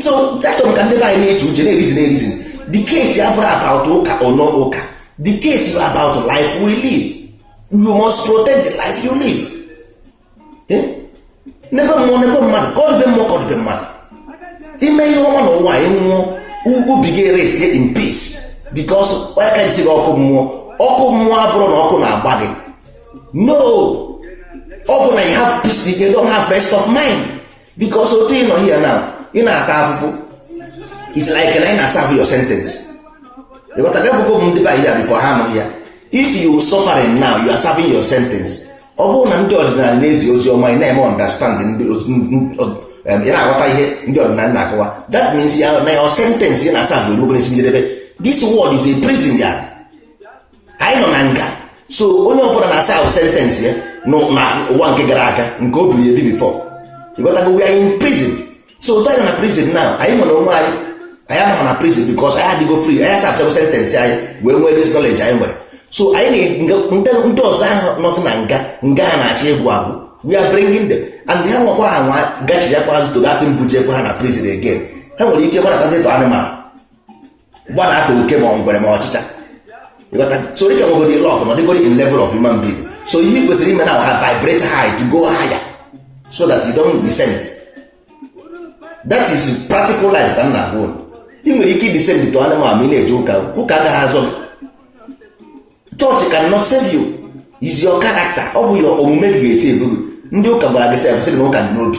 so achọrọ m ka ndị be anyị na-eche uche na-areason na-areason the case abụrọ about ụka or no ụka the case bụ about life we live you must protect the life you live Eh? n'ebe mmụọ n'ebe mmadụ ka ọ dịbe mmụọ ka ọ dịbe mmadụ ime ihe ọma na ụwa anyị nwụọ u- obi gị rest in peace because onye ụka je sị gị ọkụ mmụọ ọkụ mmụọ abụrọ na ọkụ na-agba gị no ọ bụ na you have peace you don't have rest of mind because otu ị nọ here now ị na-ata afụfụ is like na ị na-serve your sentence ịghọta gị bụgo ndị be ya before ha anọghị ya if you suffering now you are serving your sentence ọ bụrụ na ndị ọdịnala na-ezi ozi ọma ị na-eme understand ndị ị na-aghọta ihe ndị ọdịnala na-akọwa that means ya na your sentence ị na-serve erubere isi njedebe this world is a prison yard anyị nọ na nga so onye ọbụla na-serve sentence ya na ụwa nke gara aga nke o biri ebi before ị ghọtago we are in prison so ụtọ anyị na prison na anyị nwere onwe anyị anyị anọghị na prison because anyị adịgo free anyị aservechago sentence anyị wee nwee this knowledge anyị nwere so anyị ndị ọzọ ahụ nọsị na nga nga ha na-achị egwu agwụ we are bringing them and ha nwekwa ha nwa gachi ya kwa azụ to that thing bujekwa ha na prison again ha nwere ike gbanatazi to anụmanụ gbanata oke ma ngwere ma ọchịcha so ị ka nwegodi luck nọdịgodi in level of human being so ihe kwesịrị ime na-avibrate high to go higher so that you don't descend that is practical life ka m na-agwa unu ị nwere ike descend to anụmanụ ị na-eje ụka ụka agaghị azọ gị church cannot save you is your character ọ bụ your omume gị ga-esave gị ndị ụka gwara gị sef sị na ụka dị n'obi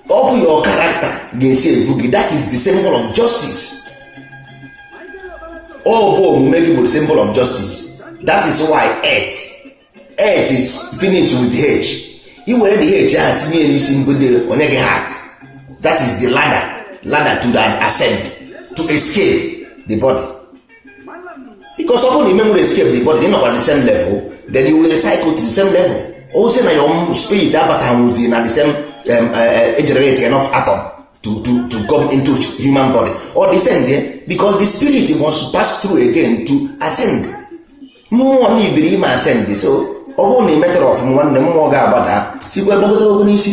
ọ bụ your character ga-esave gị that is the symbol of justice ọ bụ omume gị bụ the symbol of justice that is why earth earth is finished with h i were the h ahụ tinye n'isi mbido o nye gị heart that is the ladder ladder to the ascend to escape the body because ọ bụrụ na i menwuro escape the body ị nọkwa the same level then you will recycle to the same level ozi na your spirit abatanwuzi na the same um, uh, uh, generate enough atom to, to, to come into human body or descend yeah? because the spirit must pass through again to ascend mmụọ na ibiri ime ascend so ọ bụrụ na ị metara ọfụma nwanne mmụọ ga-agbada sikwa gbagotagogo n'isi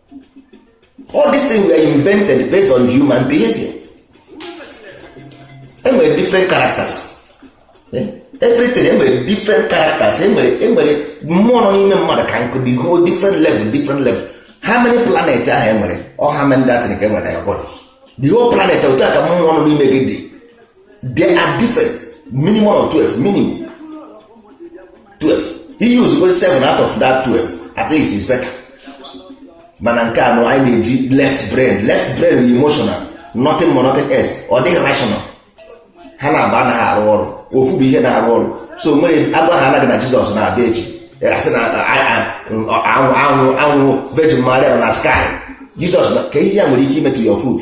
all these things were invented based on human behavior enwere different characters eh? everything enwere different characters enwere enwere mmụọ nọ n'ime mmadụ ka nkụ dị whole different level different level how many planet ahụ enwere ọ how many that ka enwere na your body the whole planet otu a ka mmụọ nọ n'ime gị dị they are different minimum of 12 minimum 12 i use 7 out of that 12 at least is better mana nke anọ anyị na-eji left brain left brain bụ emotional nothing more nothing else ọ dịghị rational ha naabọ anaghị arụ ọrụ ofu bụ ihe na-arụ ọrụ so nwere agwa ha anaghị na jizọs na-abịa echi a sị na a hụ a hụ a hụ virgin maria na sky jizọs ka ihe ya nwere ike imetụ ya food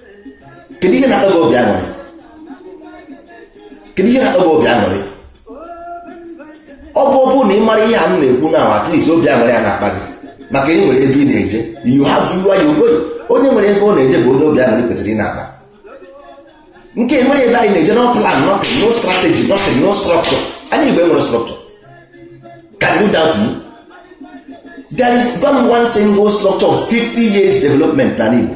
kedu ihe na-akpa obi aṅụrị kedu ihe na-akpa obi aṅụrị ọ bụ ọ bụrụ na ị mara ihe a m na-ekwu na at least obi aṅụrị a na-akpa gị maka ị nwere ebe ị na-eje you have you are you going onye nwere ebe ọ na-eje bụ onye obi aṅụrị kwesịrị ịna-akpa nke nwere ebe anyị na-eje no plan nothing no strategy nothing no structure anyị Igbo enwerọ structure can you doubt me there is one single structure of 50 years development na Igbo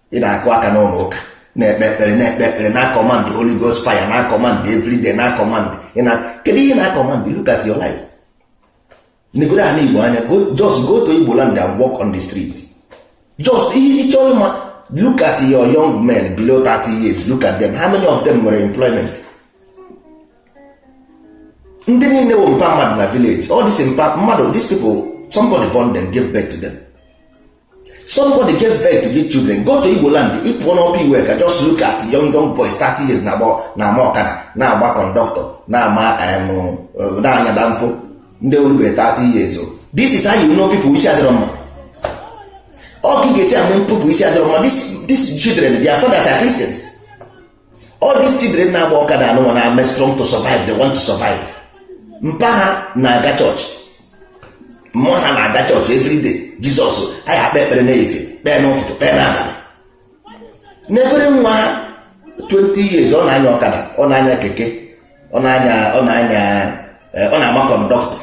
ị na-akụ aka n'ụlọ ụka na-ekpe ekpere na-ekpe ekpere na command Holy Ghost fire na command everyday na command kedu ihe na command look at your life negodo ala Igbo anya just go to Igbo land and walk on the street just ihe ịchọ ịma look at your young men below 30 years look at them how many of them nwere employment ndị niile bụ mpa mmadụ na village all this mpa mmadụ these people somebody born them gave birth to them somebody gave birth to these children go to Igbo land ị pụọ n'Upper Iweka just look at young young boys 30 years na-ama ọkada na-agba conductor na-ama uh, na-anya danfo ndị orube 30 years old this is how you know people isi adịrọ mma ọ ka ị ga-esi ama people isi adịrọ mma these children their fathers are Christians all these children na-agba ọkada anụnwa na-eme strong to survive they want to survive mpa ha na-aga chọọchị mma ha na-aga chọọchị everyday Jizọs anyị ekpee ekpere n'ehihie kpee n'ụtụtụ kpee n'abalị n'ekpere nwa ha 20 years ọ na-anya ọkada ọ na-anya keke ọ na-anya ọ na-anya eh, ọ na-ama conductor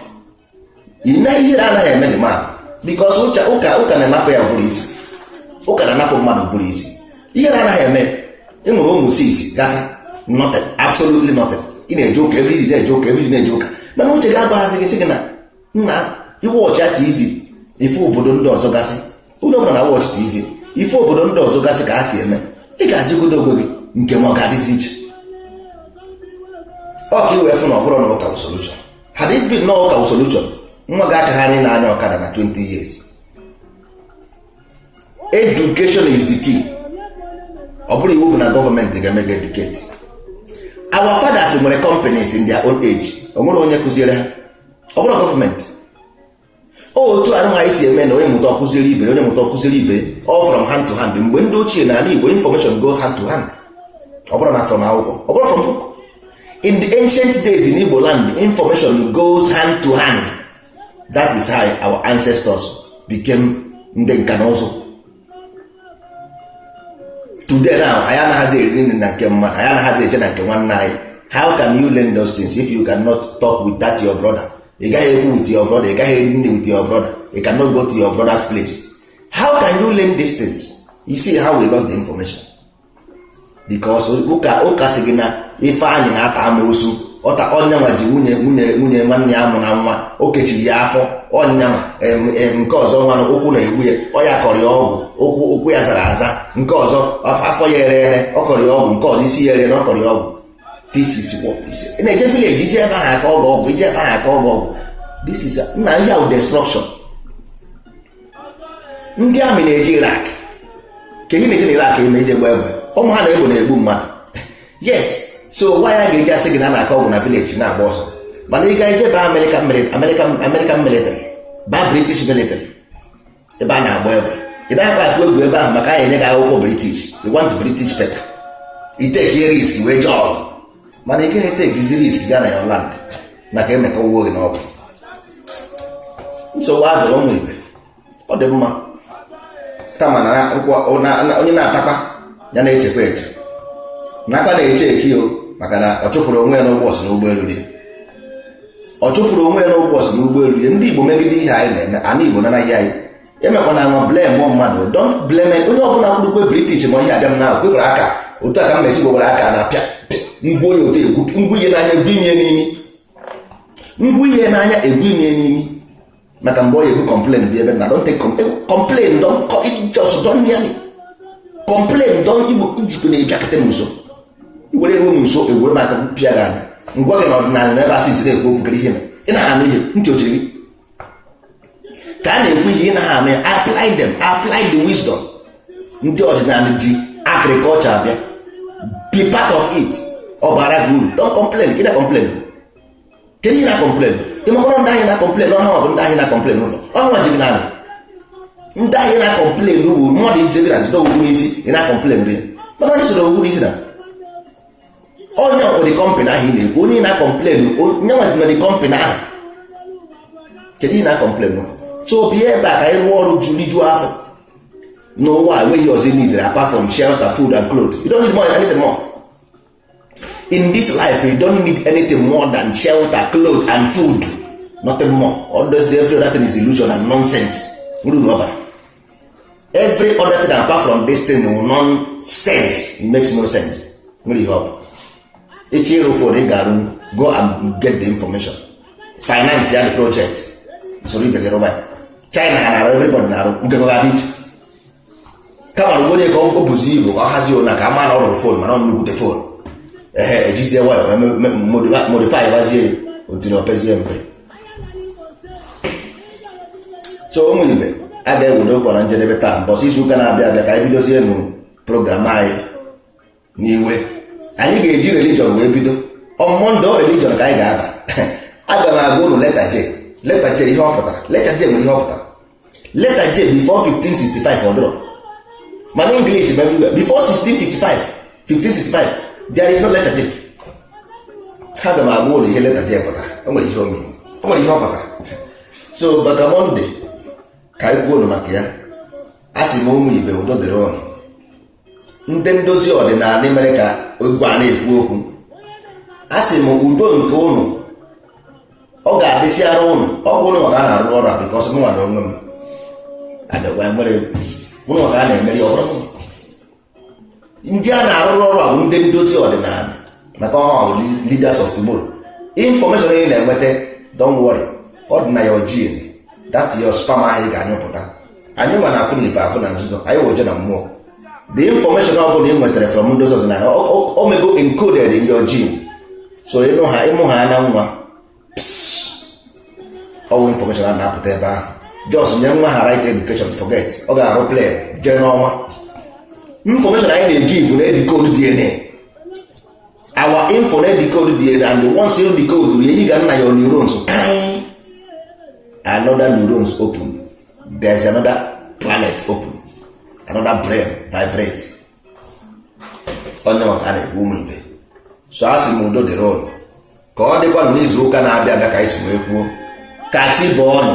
ime ihe na-anaghị eme ndị mmadụ because ụka ụka na-anapụ ya ụbụrụ isi ụka na-anapụ mmadụ ụbụrụ isi ihe na-anaghị eme ị nwere ụmụ six gasa nothing absolutely nothing ị na-eje ụka everyday na-eje ụka everyday na-eje ụka mana uche gị agwaghịzị gị sị gị na nna ị watch tv ị fụ obodo ndị ọzọ gasị ụlọ ọbụla na-watch tv ị fụ obodo ndị ọzọ gasị ka ha si eme ị ga-ajụgodo onwe gị nke mụa ọ ga-adịzi iche ọ ka ị wee fụ na ọ bụrụ na ụka bụ solution had it been na ụka bụ solution nwa gị akagharị ịna-anya ọkada na 20 years education is the key ọ bụrọ iwu bụ na gọọmenti ga-eme gị educate our fathers nwere companies in their own age o nwere onye kụziere ha ọ bụrọ gọọmenti otu anụnwa anyị si eme na onye mụta ọ kụziere ibe onye mụta ọ kụziere ibe all from hand to hand mgbe ndị ochie na ala Igbo information go hand to hand ọ bụrọ na from akwụkwọ ọ bụrọ from book in the ancient days in Igbo land information goes hand to hand that is how our ancestors became ndị nka na ụzụ today now anyị anaghịzi eri nri na nke mmadụ anyị anaghịzi eje na nke nwanne anyị how can you learn those things if you cannot talk with that your brother ị gaghị ekwu with your brother ị gaghị eri nri with your brother you cannot go to your brother's place how can you learn these things you see how we lost the information because ụka ụka sị gị na ifeanyị na-ata amoosu ọta onye nwa ji nwunye nwunye nwunye nwanne ya amụna nwa o kechiri ya afọ onye nwa em, em, nke ọzọ nwa ụkwụ na-egbu ya ọ ya kọrọ ya ọgwụ ụkwụ ụkwụ ya zara aza nke ọzọ af- afọ ya ere ere ọ kọrọ ya ọgwụ nke ọzọ isi ya ere ere ọ kọrọ ya ọgwụ this is what is ị na-eje village i je ebe ahụ a kọọ gị ọgwụ i je ebe ahụ a kọọ gị ọgwụ this is na ihe ahụ destruction ndị army na-eje Iraq ka ihe na-eje na Iraq eme ije gba egbe ụmụ ha na-egbu na-egbu mmadụ yes so why a ga-eji asị gị na a na-akọ ọgwụ na village ị na-agba ọsọ mana ị ga-eje ba American military American American military ba British military ebe a na-agba egbe ị naghịkwa atụ egwu ebe ahụ maka anyị enye gị akwụkwọ British you want British paper i take risk wee jee ọgụ mana ị gaghị etekizi risk gaa na your land maka emeka ụgwọ gị n'ọgwụ nsogbu adịrọ ụmụ ibe ọ dị mma kama na onye na-atakwa ya na-echekwa eche nakwa na-eche eki o maka na ọ chụpụrụ onwe ya n'ụgbọ sị na ụgbọ elurọ ya ọ chụpụrụ onwe ya n'ụgbọ sị na ụgbọ elurọ ya ndị Igbo megide ihe anyị na-eme ana Igbo nanaghị anyị emekwa na nwa blame mmadụ don't blame onye ọbụla kwurukwe british ma ihe abịa m na kwefere aka otu a ka m mesi gwewere aka na-apịa ngwu onye otu egwu ngwu ihe n'anya egwu inye n'imi ngwu ihe n'anya egwu inye n'imi maka mgbe ọ ya egwu complain bi ebe na don't take complain don't just don't near me complain don't igbo ijikwu na ịbịakọta m nso i wee ruo m nso ewere m aka pịa gị anya m gwa gị na ọdịnala na ebe asị ntị na-ekwu okwu kere ihe na ị na-anụ ihe ntị ochiri gị ka a na-ekwu ihe ị naghị anụ ya apply them apply the wisdom ndị ọdịnala ji agriculture abịa be part of it ọ bara gị uru don't complain gị na complain kedu ihe ị na complain ị makọrọ ndị ahụ ị na complain ọ ha bụ ndị ahụ ị na complain ụzọ ọ ha nwa ji gị naanị ndị ahụ ị na complain bụ mmadụ ijebira jide ogwu n'isi ị na complain ri mana onye soro ogwu n'isi na onye ọkpụrụ kọmpanị ahụ ị na-ekwu onye na-acomplain onye nwa dị kọmpanị ahụ kedu ị na-acomplain so bịa ebe a ka anyị rụọ ọrụ rijuo afọ n'ụwa enweghị ọzọ i needịrị apart from shelter food and clothes you don't need more anything more in this life you don't need anything more than shelter clothes and food nothing more all those every other thing is illusion and nonsense ruru ọbara every other thing apart from this thing wụ nonsense it makes no sense nwere ihe ọ bụ ị chọọ ịrụ fon ị ga-arụ go and get the information finance ya the project soro ibe gị rụba ya china ha na-arụ everybody na-arụ nke gị ọ ga-adị iche kama na onye ka ọ bụzi igbo ka ọ hazie ụna ka a ma na ọ rụrụ fon mana ọ nnukwute fon ehe ejizie waya modify gbazie otiri o pezie mpe so ụmụ ibe a ga-ewedo okwu a na njedebe taa mbọsị izu ụka na-abịa abịa ka anyị bidozie new program anyị n'ebe anyị ga-eji religion wee bido on monday religion ka anyị ga-aba aga m agwa ụnụ leta j leta j ihe ọ pụtara leta j nwere ihe ọ pụtara leta j before 1565 ọ dịrọ ma na english bụ everywhere before 1655 1565 there is no leta j aga m agwa ụnụ ihe leta j pụtara o nwere ihe o mean o nwere ihe ọ pụtara so maka monday ka anyị kwuo maka ya a sị m ụmụ ibe udo dịrị ụnụ ndị ndozi ọdịnala mere ka igwe a na-ekwu okwu a sị m udo nke ụnụ ọ ga-adịsịara ụnụ ọ bụ ụnụ ma ka a na-arụ ọrụ a bikọs mụnwa na onwe m adịkwa nwere ụnụ ma ka a na-emeri ọrụ ndị a na-arụrụ ọrụ a bụ ndị ndozi ọdịnala maka ọ ha bụ leaders of tomorrow information ị na-enweta don't worry ọ dị na your gene that your sperm ahụ ị ga-anyụpụta anyị nwa na-afụ na ife afụ na nzuzo anyị woje na mmụọ the information ọ bụla ị nwetara from ndozi ọdịnala o mego encoded in your gene so ịnụ ha ịmụ ha na nwa ọ wụ information a na-apụta ebe ahụ just nye nwa ahụ right education forget ọ ga-arụ plane jee n'ọnwa information anyị na-egive na-edecode dna our info na-edecode dna and once you decode ya ị ga na your neurons another neurons open there is another planet open another brain vibrate onye ma ka a na-ekwu ụmụ ibe so a sị m udo dịrị ụnụ ka ọ dịkwa na n'izu ụka na-abịa abịa ka anyị si wee kwuo ka chi bọọ nụ